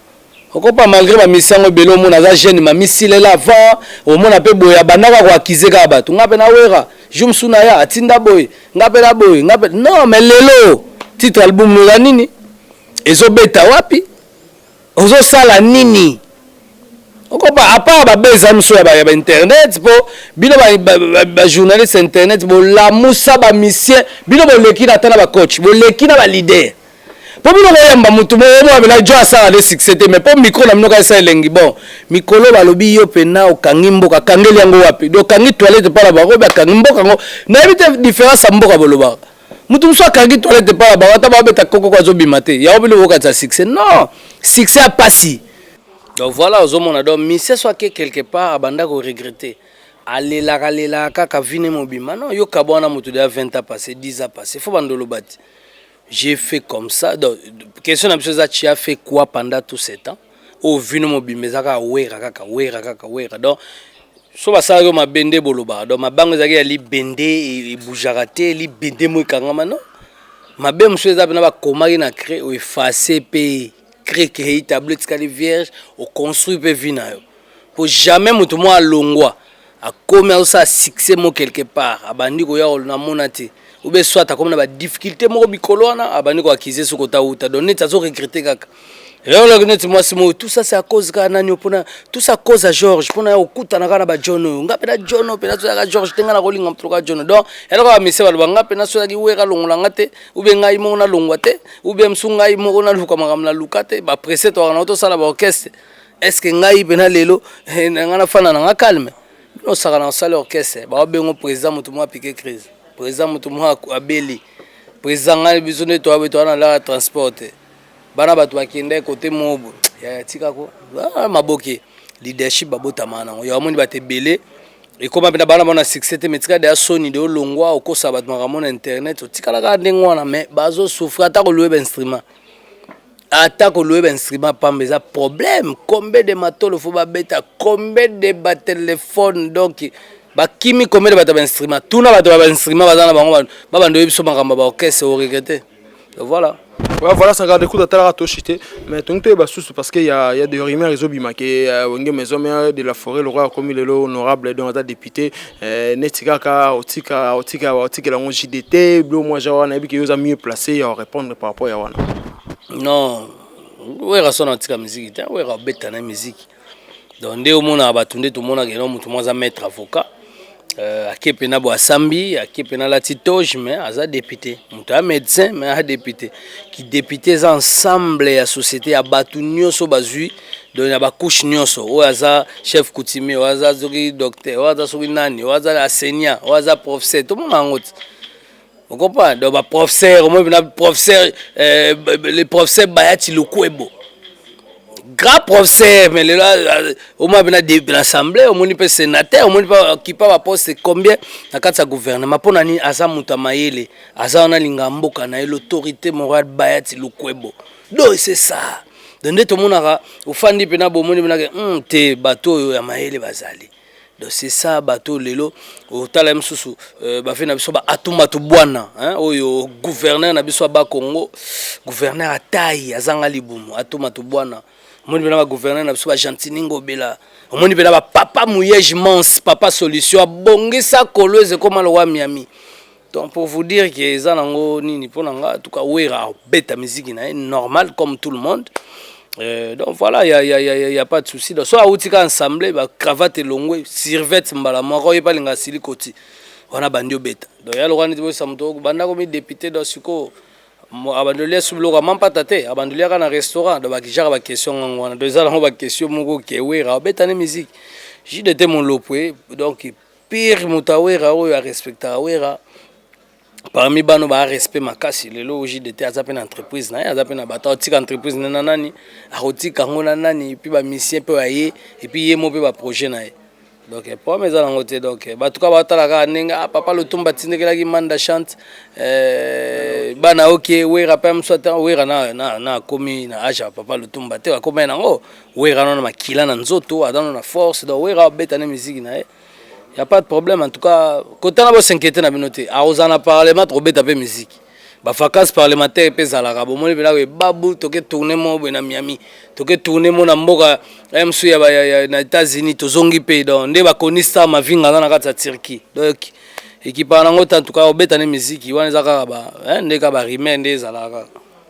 Okopa malgré ba misi yango ebele omona aza jeune ma misilela avant omona pe boye abandaka ko accuser kaka batu. Nga pe na wera jour mosusu naya atinda boye nga pe na boye nga pe non mais lelo titre album no eza nini? Ezo beta wapi? Ozo sala nini okopa apart ba beza miso ya ba internet po bino ba journaliste internet bolamusa ba misien bino boleki na ata na ba coach boleki na ba leader po bino boyamba mutu moko mwa bela jo asala de succès te mais po micro na bino kaisa elengi bon mikolo balobi yo pena okangi mboka kangeli yango wapi do kangi toilette pa na bango ba kangi mboka ngo nayebi te difference ya mboka bolobaka mutu mosusu akangi toilette epai na bango ata babeta kokoko azobima te yango bino bokatisa succès non succès ya pasi donc voilà ozomona donc misie so ake quelque part abanda koregrete alelaka alelaka kaka vine mobima non yo kaba wana motu deya 20 ans passé 10 ans passé fo banda oloba te j'ai fait comme ça donc question na biso eza tu as fait quoi pendant tout ce temps oyo oh, vino mobimba eza kaka wera kaka wera kaka wera donc so basalaki yo mabe nde bolobaka donc mabe yango ezalaki ya libende e, ebujaka te libende mo ekangama no mabe mosusu eza mpena bakomaki na cre oefase mpe creke hei tablo etikali vierge oconstruit mpe vi na yo mpo jamais moto mwa alongwa akomi azosala succès mo quelque part abandi koya namona te obe soit akomi na badifficulté moko mikolo wana abandi koakize soki ota uta donc neti azoregrete kaka eolaki neti mwasi moyo tout ça c'est à cause kaka nani mpona tout ça cause ya george mpona ya kokutana kaka na bajohn oyo nga mpena john oyo mpena soyaka george te nga nakolinga moto loka john donc eloko ya misie baloba nga mpena soyaki wera longola nga te oubie ngai moko nalongwa te oubie mosu ngai moko naluka makambo naluka te bapresse toaka na otosala baorchestre est ce que ngai pena lelo eh, na ngai nafanda na ngai calme bino osakana osali orchestre baobengo président motu moko apike crise président motu moko abeli président ngai biso nde toabe toa na laka transport te bana bato bakenda kote mobo ya tikako ah, maboke leadership babotama nango yo amoni bato ebele ekoma mpena bana bona succès te metika deya soni de olongwa okosa bato makambo na internet otikalaka ndenge wana mais bazosouffre ata kolue bainstrument Ata ko louer ba instruments pamba eza problème, combien de matolo faut ba beta, combien de ba telephones donc ba kimi combien de bato ya ba instruments. Tuna bato ya ba instruments baza na bango ba banda oyebi biso makambo ya ba orchestre o regretter. Donc voilà. Ouais, voilà ça garde écoute atalaka toshi te mais tongi toyeba susu parce que ya ya de rumeur ezobima ke euh, wenge maison mère de la forêt lokola akomi lelo honorable donc aza député Eh, neti kaka otika otika otikela yango jde te bilo mwa ja wana yebi ke yo oza mieux placé ya orépondre par rapport ya wana non wera sona atika miziki te wera obeta na miziki donc nde omonaka bato nde tomonaka eno moto mwa aza maître avocat euh, ake mpena bo asambi ake mpena alati toge mais aza député moto ya médecin mais aza député kidéputé eza ensemble ya société ya bato nyonso bazwi donc na bacouche nyonso oyo aza chef coutumier oyo aza soki docteur oyo aza soki nani oyo aza enseignant oyo aza professeur tomona yango te okopa donc baprofesseur omoi mpena professeur euh, le professeur bayati lokuebo grand professeur mais lelo omoi mpena na assemblée omoni mpe sénateur omoni mpe okipa baposte combien na kati ya gouvernement mpo na nini aza moto ya mayele aza wana linga mboka na ye l'autorité morale bayati lokuebo do c'est ça donc nde tomonaka ofandi mpena bomoni mpenake hmm, te bato oyo ya mayele bazali donc c'est ça bato lelo otala ye mosusu euh, bafe na biso baatumatu bwana oyo gouverneur na biso aba congo gouverneur atai azanga libumu atumatu bwana omoni mpena bagouverneur na biso bagentini ngobela omoni mpena bapapa muyege mans papa solution abongisa kolo ezekoma lowa miami Donc pour vous dire que eza nango nini pona nga en tout cas Wera beta musique na normal comme tout le monde. Euh, donc voilà, il n'y a, y a, y a, y a, pas de souci. Donc, soit Aoutika ensemble, bah, cravate longue, sirvette mbala, moi, il n'y a pas de silicoti. On a bandio bête. Donc, il y a le roi de Samto, banda comme député dans ce coup. abandolia subiloka mampata te abandoliaka na restaurant do bakijaka baquestion ngango wana do eza nango baquestion moko kewera abetani musique jide te molopwe donc Pire moto ya Werra oyo a respectaka Werra parmi bano ba respect makasi lelo JDT aza pe na entreprise na ye aza pe na bato atika entreprise na na nani akotika yango na nani epuis bamisien mpe aye epuis ye mo mpe baprojet na ye donc problème eza nango te donc bato kaka batala kaka ndenge ah, papa lotumba atindekelaki manda chante eh, bana oke wera mpe mosu ata wera na akomi na age ya papa lotumba te akomai nango Werra nano na makila na nzoto, aza nano na force, donc Werra abeta na miziki na ye. Y a pas de problème en tout cas, kota na bo s'inquiéter na bino te. Akozala na parlement tokobeta pe miziki. Ba vacances parlementaires pe ezalaka, bomoni pena boye babu toke tourner mo boye na Miami, toke tourner mo na mboka MC ya, ba, ya, ya na États-Unis tozongi pe donc nde bakoni star Mavinga aza na kati ya Turquie. Donc ekipa nango te en tout cas obeta na miziki wana eza kaka ba hein, nde kaka ba rumeur nde ezalaka kaka.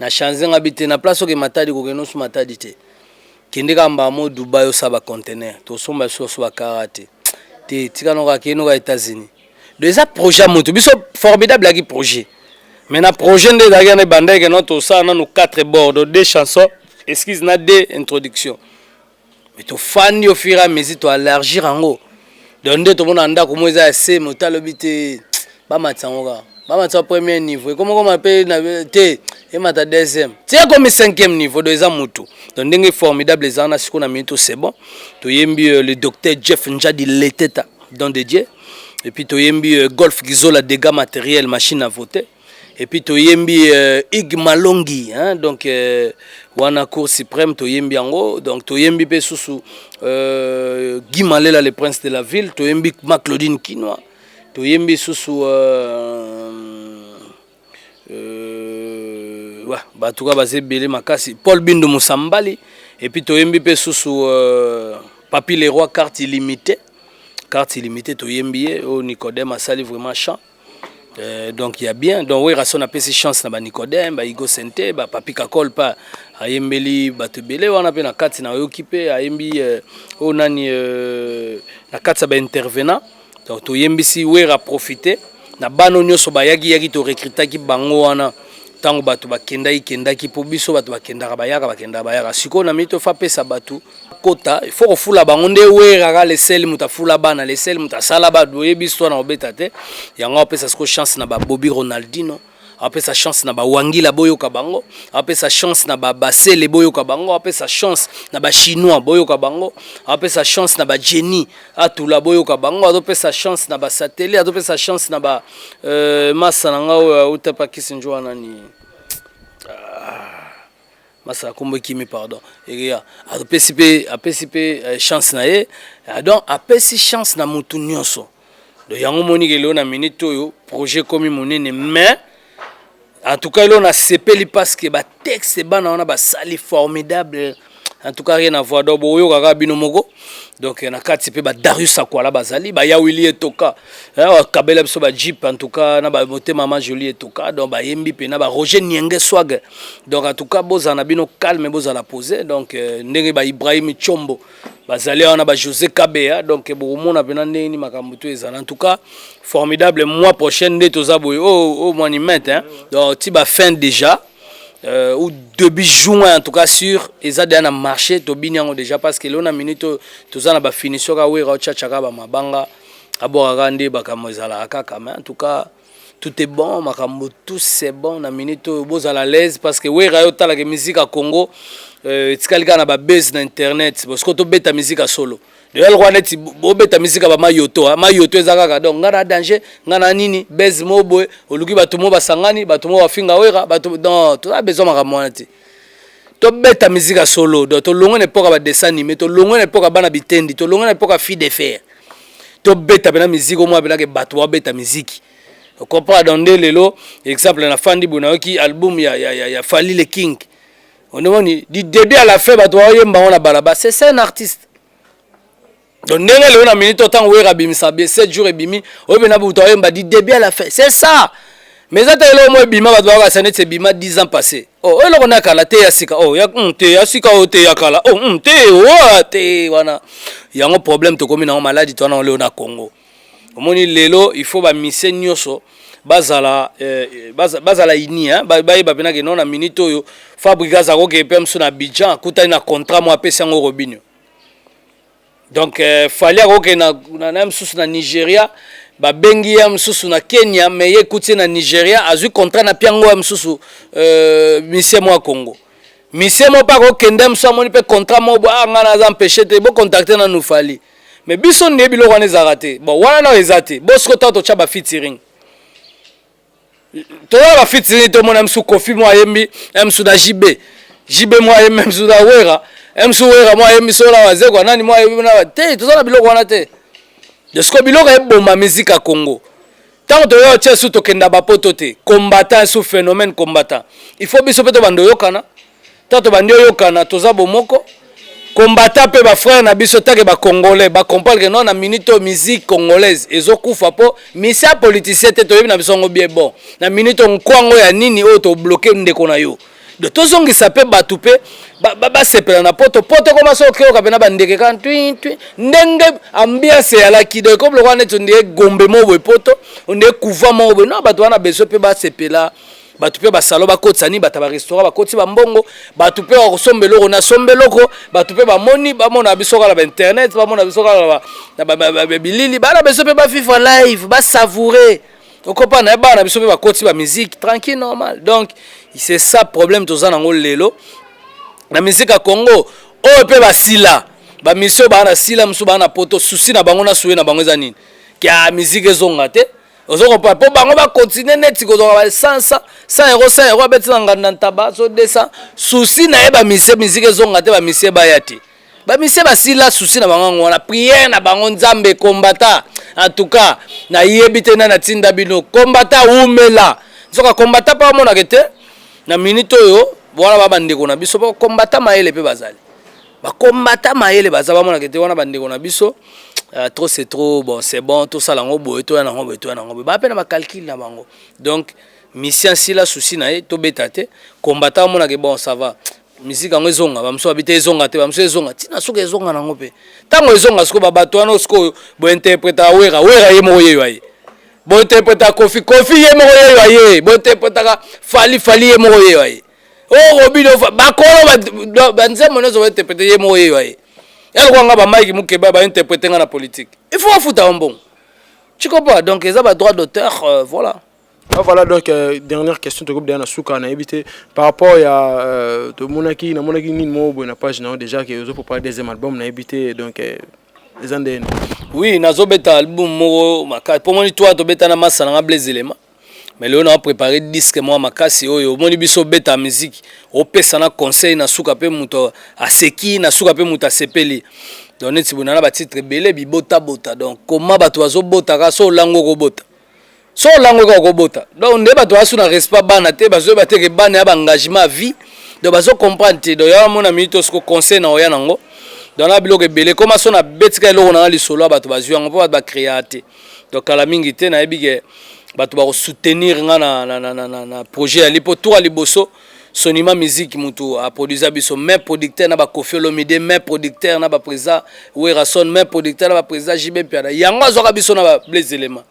na change nga bite na place oke matadi ko keno su matadi te kende ka mbamo Dubai osa ba conteneur to somba su su ba karate te tika no ka keno ka États-Unis do eza projet moto biso formidable ki projet mais na projet nde ezalaki na bandeke no to sa na no quatre bords deux chansons excuse na deux introduction mais tofandi au fur et à mesure toalargir yango donc nde tomona ndako moko eza ya se moto alobi te bamatisa yango kaka bamatisa premier niveau ekomokoma mpe te emata deuxième ti ekomi cinquième niveau donc eza motu donc ndenge formidable eza wana sikoyo na minute c'est bon toyembi euh, le docteur jeff njadi leteta don de dieu et puis toyembi euh, golf gizola dégâts matériel machine à voter Et puis toyembi euh, Ig Malongi hein, donc euh, wana cour suprême toyembi yango donc toyembi pe susu euh, Guy Malela le prince de la ville toyembi ma Claudine Kinois toyembi susu euh, euh, ouais, bah, tout cas basé belé makasi Paul Bindo Musambali et puis toyembi pe susu euh, Papi Leroy carte illimitée carte illimitée toyembi ye au oh, Nicodème asali vraiment chant Euh, donc ya bien donc werrason apesi chance na banicodème baigo sente bapapi kakol pa ayembeli bato ebele wana mpe na kati nayoki mpe ayembi oyo euh, oh, nani euh, na kati ya baintervenant donc toyembisi wera profite na bano nyonso bayaki yaki torecrutaki bango wana ntango bato bakendaki kendaki mpo biso bato bakendaka bayaka bakendaka bayaka sikoyo na mito fa apesa bato kota ifo kofula bango nde weraka leseli moto afula bana leseli moto asala bato oyebi histoire na kobeta te yango apesa sikoyo chance na babobi ronaldino apesa chance na bawangila boyoka bango apesa chance na babasele boyoka bango apesa chance na bachinois boyoka bango apesa chance na bajeni atula boyoka bango azopesa chance na basateli azopesa chance na ba euh, masa na nga oyo auta pa kisinjo wana ni ah, masa akombo ekimi pardon ekeya apesi mpe apesi mpe euh, chance na ye ah, donc apesi chance na motu nyonso donc yango omoni ke lelo na minute oyo projet ekomi monene mais En tout cas, elona sepeli parce que ba texte bana wana basali formidable. En tout cas, rien à voir. Donc, boyo kaka bino moko. Donc, na kati pe ba Darius Akwala bazali, ba Yawili etoka. Awa kabela biso ba Jeep en tout cas na ba mote maman Jolie etoka. Donc ba yembi pe na ba Roger Nienge Swag. Donc en tout cas, bozana bino calme, bozala poser. Donc euh, ndenge ba Ibrahim Chombo bazali awa na ba Jose Kabeya donc bokomona pena ndenge ni makambo to ezala en tout cas formidable mois prochaine nde toza boye o oh, o oh, monument hein donc ti ba fin déjà euh, ou début juin en tout cas sur eza deja na marché tobini yango déjà parce que lelo na minute oyo toza na bafinition ka wera otyatya kaka bamabanga abwaka kaka nde bakambo ezalaka kaka mais en tout cas tout est bon makambo tout c'est bon na minute oyo bozala l'aise parce que wera yo otalaka musique ya congo euh, etikali kaka na babase na internet bosiko tobeta musique ya solo lelo kwa neti bobeta musique ya bamayoto ah, mayoto eza kaka donc ngai na danger ngai na nini base moko boye oluki bato moko basangani bato moko bafinga wera bato donc toza besoin makambo wana te tobeta musique ya solo donc tolongwe na epoque ya badessin anime tolongwe na epoque ya bana bitendi tolongwe na epoque ya fille de fer tobeta mpena miziki omona mpenake bato babeta miziki okompara donc nde lelo exemple na fandi boye nayoki album ya, ya, ya, ya fali le king onemoni du début à la fin bato baoyemba yango na balaba c'est ça un artiste donc ndenge lelo na minute otango wera abimisa be 7 jours ebimi oyebi na buta oyemba di début à la fin c'est ça mais eza te eloko moko ebima bato bakakasa neti ebima 10 ans passé oh, oyo eloko na kala te ya sika oh, ya, mm, te ya sika oyo oh, te ya kala oh, mm, te oa oh, te wana yango problème tokomi nango maladi to wana oleo na congo omoni lelo il faut bamise nyonso bazala eh, eh bazala ini hein? bayeba mpena ke no na minute oyo fabrigas akoke mpe mosu na abidjan akutani na contrat moko apesi yango robinio donc euh, fali akokende na, na, na mosusu na nigeria babengi ye mosusu na kenya me ye ekuti ye na nigeria azwi contrat na piango ya mosusu euh, misie mwa congo misie moko mpe akokende mosusu amoni mpe contrat moko bo ah, ngai naza empeshe te bocontacte nanu fali me biso nde biloko wana ezalaka te bon wana nao eza te bosiko ntango totya bafitiring toza ba fiti nini tomona msu kofi mwa ayembi msu na jb jb mwa ayembi msu na wera msu wera mwa ayembi so na wazekwa nani mwa ayembi na te toza na biloko wana te desiko biloko eboma miziki ya congo ntango toya otya su tokenda bapoto te combattant su phénomène combattant il faut biso mpe tobanda oyokana to tobandi oyokana toza bomoko kombata mpe bafrere na biso take bacongolais bacomprendre ke non na minute oyo musique congolaise ezokufa mpo misi ya politicien te toyebi na biso yango bie bon na minute oyo nkwango ya nini oyo tobloke ndeko na yo do tozongisa mpe bato mpe basepela na poto poto ekoma so okeyoka mpe na bandeke kaka twi twi ndenge ambiance eyalaki do ekomi lokola neti ondie gombe moko boye poto ondie kuva moko boye no bato wana beso mpe basepela bato mpe basalo bakotisa nini bato ya barestaurant bakotisi bambongo bato mpe bakosomba eloko na somba eloko bato mpe bamoni bamona biso kaka na bainternet bamona biso kaka na bilili bana biso mpe bavivre live basavoure okopa na ye bana biso mpe bakotisi bamiziki tranquille normal donc c'est ça problème toza nango lelo na miziki ya congo oyo mpe basila bamisio baa na sila mosusu baa na poto susi na bango na suye na bango eza nini kya miziki ezonga te ozo comprendre mpo bango bakontinue neti kozwaka ba 100 100 euro 100 euro abeti na nganda ntaba so 200 susi na ye bamisie miziki ezonga te bamisie baya te bamisie basila susi na bango yango wana priere na bango nzambe kombata en tout cas nayebi te nani atinda bino kombata wumela nzoka kombata mpe amonaka te na minute oyo wana ba bandeko na biso mpo kombata mayele mpe bazali bakombata mayele baza bamonaka ete wana bandeko na biso euh, trop c'est trop bon c'est bon tosala yango boye toya nango boye toya nango boye baa mpe na bacalcule na bango donc misi asila susi na ye tobeta te kombata bamonaka bon ça va miziki yango ezonga bamosusu babi te ezonga te bamosusu ezonga ntina soki ezonga nango mpe ntango ezonga sikoyo babato wana sikoyo bointerpreta wera wera ye moko yeyo aye bointerpreta kofi kofi ye moko yeyo aye bointerpretaka fali fali ye moko yeyo aye oko bino bakolo banzembo nyonso bainterprete ye moko yeyo aye yalokola nga bamaiki mokeba bainterprete nga na politique il faut afuta yo mbongo cikopa donc eza badroit d'auteur euh, voilà Ah, voilà donc euh, dernière question tokobi deya na suka nayebi te par rapport ya euh, tomonaki namonaki nini moko boye na page na yo déjà ke ozo prépare deuxième album nayebi te donc euh, eza nde oui nazobeta album moko makasi mpo moni toi tobeta na masa nanga blaise elema mais lelo naa préparé disque mwa makasi oyo omoni biso obeta miziki opesa na conseil na suka mpe moto aseki na suka mpe moto asepeli donc neti bonana batitre ebele bibotabota donc koma bato bazobotaka so olango okobota so olango eka okobota donc nde bato basu na respect bana te bazoyeba te ke bana ya baengagement ya vie donc bazo comprendre te donc yawa mona minute osiko conseil na oya nango donc na biloko ebele ekoma so nabetika eloko nanga lisolo ya bato bazwi yango mpo bato bacrea te donc kala mingi te nayebi ke bato bakosoutenir nga na, na, na, na, na, na projet yali mpo tour ya liboso Sonima musique mutu a produisa biso main producteur na ba Koffi Olomide main producteur na ba président Werrason main producteur na ba président JB Mpiana yango azwaka biso na ba Blaise Elema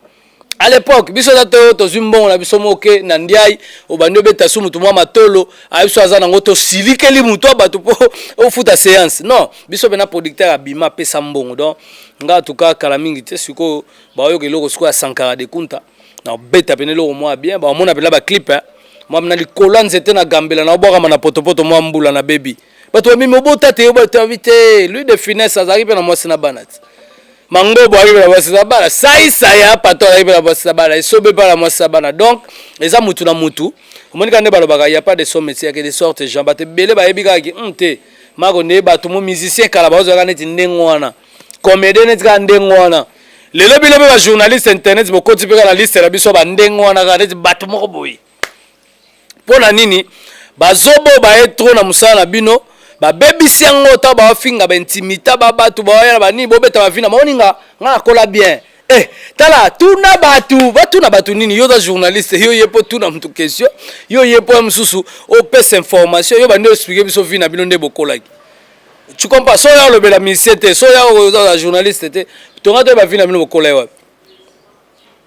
à l'époque biso eza to tozwi mbongo na biso moke na ndiai obandi obeta su mutu mwa matolo ayebi biso aza nango tosilikeli mutu ya bato mpo ofuta séance non biso mpe na producteur abima apesa mbongo donc nga tuka kala mingi te sikoyo baoyoka eloko sikoyo ya sankara de kunta na beta pene loko mwa bien ba mona pela ba clip hein mwa na likolo ya nzete na gambela na obwaka na potopoto mwa mbula na bebi bato bamemi obota te yo bato yabi te lui de finesse azalaki mpe na mwasi na bana te mangobo ayaki mpe na mwasi na bana saisa ya pato azalaki mpe na mwasi na bana esobe mpe na mwasi na bana donc eza mutu na mutu omoni kaka nde balobaka ya pas de son métier yake de sorte jean bato ebele bayebi kaka ki hmm, te mako nde bato mo musicien kala bazalaka neti ndenge wana comedien neti kaka ndenge wana lelo bino mpe bajournaliste internet bokoti mpe kaka na liste na biso bandenge wana kaka neti bato moko boye mpo na nini bazobo baye tro na mosala na bino babebisi yango ota baofinga baintimita babatu baoyana banini bobeta bavina maoninga nga nakola bien Eh, tala tuna bato batuna bato nini yo oza journaliste yo ye mpo tuna moto question yo ye mpo ya mosusu opesa information yo bandi oexplike biso vi na bino nde bokolaki Tu comprends? So ya lobela musicien te, so ya oza journaliste te, tonga to ba vie na bino bokola wapi?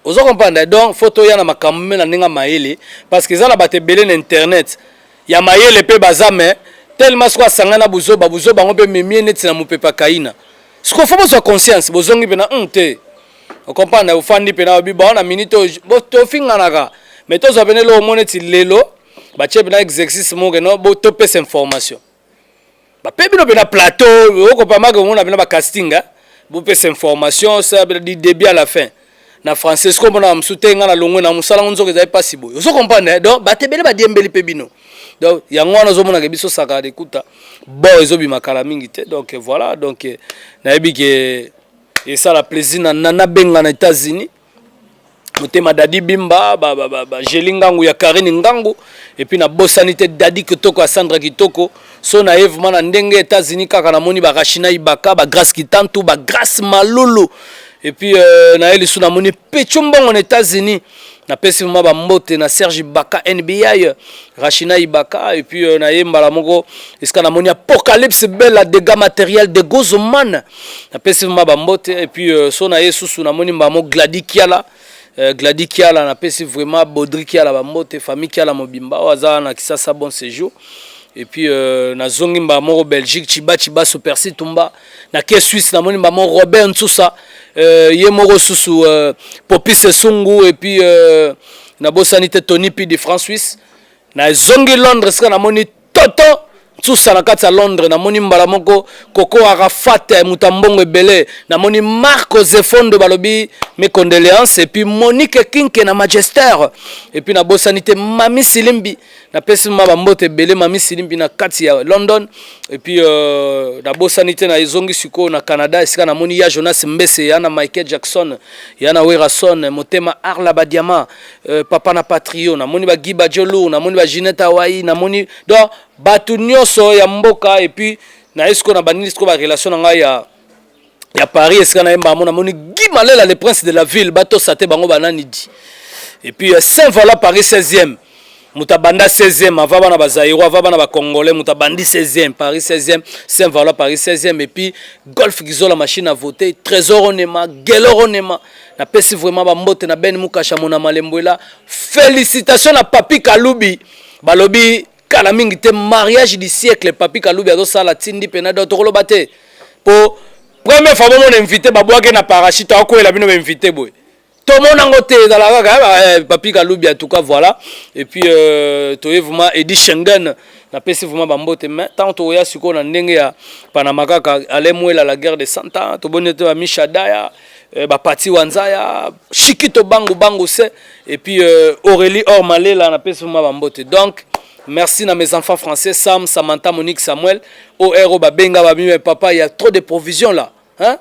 Ozo comprendre? Donc faut to ya na makambo me na ninga mayele parce que za na bato ebele na internet ya mayele pe baza mais tellement siko asangana buzoba buzoba yango pe memie neti na mopepa kaina. Siko faut bozwa conscience, bozongi pe na hum te. O comprendre? Ofandi pe na obi ba na minute bo to finganaka. Mais tozwa pe na lo omoneti lelo ba chebe na exercice mo ke no bo to pesa information. bape bino pena plateau okopamaka omona pena bacasting eh? bopesa information sa du début à la fin na français soki omonaka mosusu te ngai na longwe na mosala ngo nzoka ezali mpasi boye ozo comprendre eh? donc bato ebele badiembeli mpe bino donc yango wana ozomonaka biso sakala dekuta bo ezobima kala mingi te donc voilà donc nayebi ke esala plaisir na nabengana états-unis motema dadi bimba ba, ba, ba, ba jeli ngangu ya karine ngangu epuis na bosani te dadi kitoko ya sandra kitoko so na ye vrema na ndenge etats-unis kaka namoni barashina ibaka bagrace kitantu bagrace malulu epuis euh, na ye lisu namoni pecho mbongo na états-unis napesi vrema bambote na serge ibaka nbi rashina ibaka epuis euh, na ye mbala moko esika namoni apocalypse bella dega matériel de gozomane na pesi vraiment ba mbote et puis euh, so na ye susu na moni mbamo Gladi Kiala euh, Gladi Kiala na pesi vraiment Bodri Kiala ba mbote famille Kiala mobimba waza na Kisasa bon séjour et puis euh, na zongi mbaa moko belgique chiba chiba supersi tumba na ke suisse namoni mbaa moko robert nsusa euh, ye moko susu euh, popis esungu et puis euh, nabosani te tony p de france suisse na zongi londres sika namoni toto nsusa na kati ya londres namoni mbala moko koko arafat eh, moto ya mbongo ebele namoni marco zefondo balobi mes condoléances epuis monique kinke na magester epuis nabosani te mami silimbi napesi ma bambote ebele mami silimbi na kati ya london epuis euh, nabosani te na ezongi sikoyo na canada esika namoni ya jonas mbese ya na michael jackson ya na werason motema arla badiama Euh, papa na patrio namoni ba giba jolou namoni ba ginette awai namoni donc bato nyonso ya mboka epuis naye sikoyo na bandini sikoyo barelation na ngai ya ya paris esika na ye mbamo namoni gi malela le prince de la ville batosa te bango bananidi epuis euh, saint vala paris 16e moto abanda 16e ava bana bazairo ava bana bacongolais moto abandi 16e paris 16e saint valois paris 16e epuis golf gizola machine à voter trésor onema gelor onema napesi vraiment bambote na ben mukasha mona malembwela félicitation na papi kalubi balobi kala mingi te mariage du siècle papi kalubi azosala tindi mpena do tokoloba te mpo première fois bomona invité babwaki na parachute akoyela bino bainvité boye tomona ngo te ezala kaka eh, eh, papi kalubi en tout cas voilà et puis euh, toye vraiment edi schengen napesi vraiment bambote mais ntango tokoya sikoyo na ndenge ya panama kaka ale mwela la guerre de cent ans toboni te bamisha daya euh, bapati wanzaya shikito bangu bangu se et puis euh, aurélie or malela napesi vraiment bambote donc merci na mes enfants français sam samantha monique samuel oro babenga bamime papa il y a trop de provisions là hein?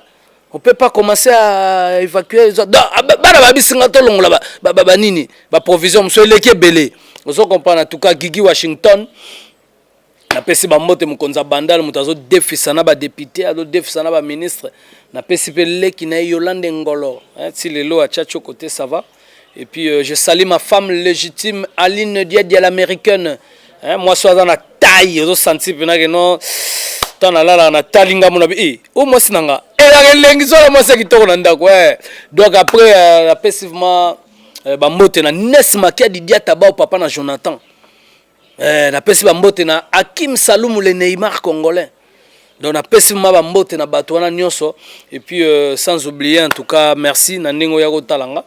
on peut pas commencer à évacuer ah, bana babisi nga tolongola banini baprovision mosusu eleki ebele ozo comprendre en tout cas gigi washington napesi bambote mokonzi ya bandal moto azodefisa na badepute azodefisa na baministre napesi mpe leki na ye yolande ngolo ti lelo atia tioko te sava Et puis euh, je salue ma femme légitime Aline Diadia l'américaine. Hein, moi soit dans la taille, ozo senti pena que non. Tant la la na talinga mon abi. Eh, oh moi sinanga. Et eh, la lengi zo la moi c'est kitoko na ndako. Eh. Donc après euh, après sivement euh, ba mbote na Nes Makia Didia Tabao papa na Jonathan. Eh, napesi bambote na Hakim Salumu le Neymar congolais. Donc napesi ma bambote na bato wana nyonso et puis euh, sans oublier en tout cas merci na ndenge oya kotala nga.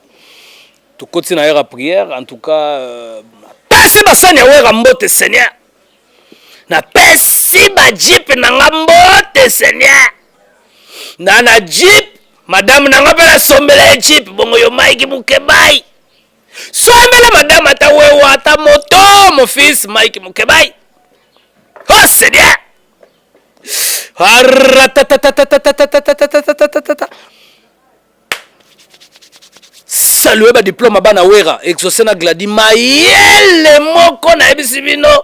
Tokoti na heure ya prière en tout cas euh, napesi basani ya wera mbote Seigneur. Napesi ba jeep na nga mbote Seigneur. Na na jeep madame na nga mpe nasombela ye jeep bongo yo Mike Mukebayi. sombela madame ata wewa ata moto mon fils mike mukebayi oh seigneur salue badiplome bana wera exauce na gladi mayele moko nayebisi bino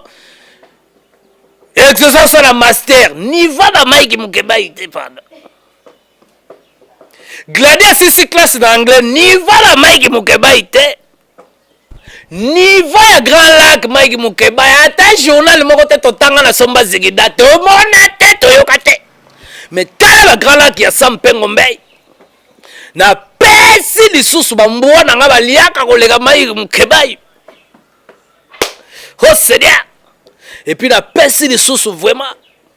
exauce asala master niva na mike mukebayi te pardon Gladi asisi classe na anglais niva na Mike Mukebayi te niva ya Grand Lac Mike Mukebayi ata journal moko te totanga na somba zigida tomona te toyoka te me tala ba Grand Lac ya Sam Pengo Mbei na pesi lisusu bambwa na ngai baliaka koleka Mike Mukebayi oh Seigneur epuis napesi lisusu vraiment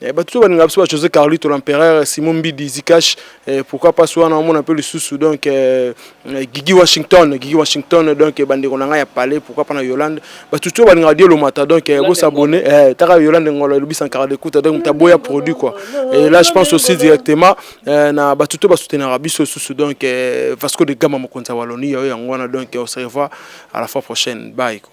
Eh, bato to balinga biso ba josé carlito l'empereur simon mbidi zikash eh, pourquoi pas wana omona mpe lisusu donc eh, eh, gigi washington gigi washington donc eh, bandeko na ngai ya palais pourquoi pas na yolande bato to balinga badie lomata donc eh, bosabone eh, taka yolande ngolo elobi sankara dekuta donc moto aboya produit quoi et là je pense aussi directement eh, na bato to basoutenaka biso lisusu donc eh, vasco de gama mokonzi ya wallonie yayo yango wana donc eh, on se revoit à la fois prochaine bye quoi.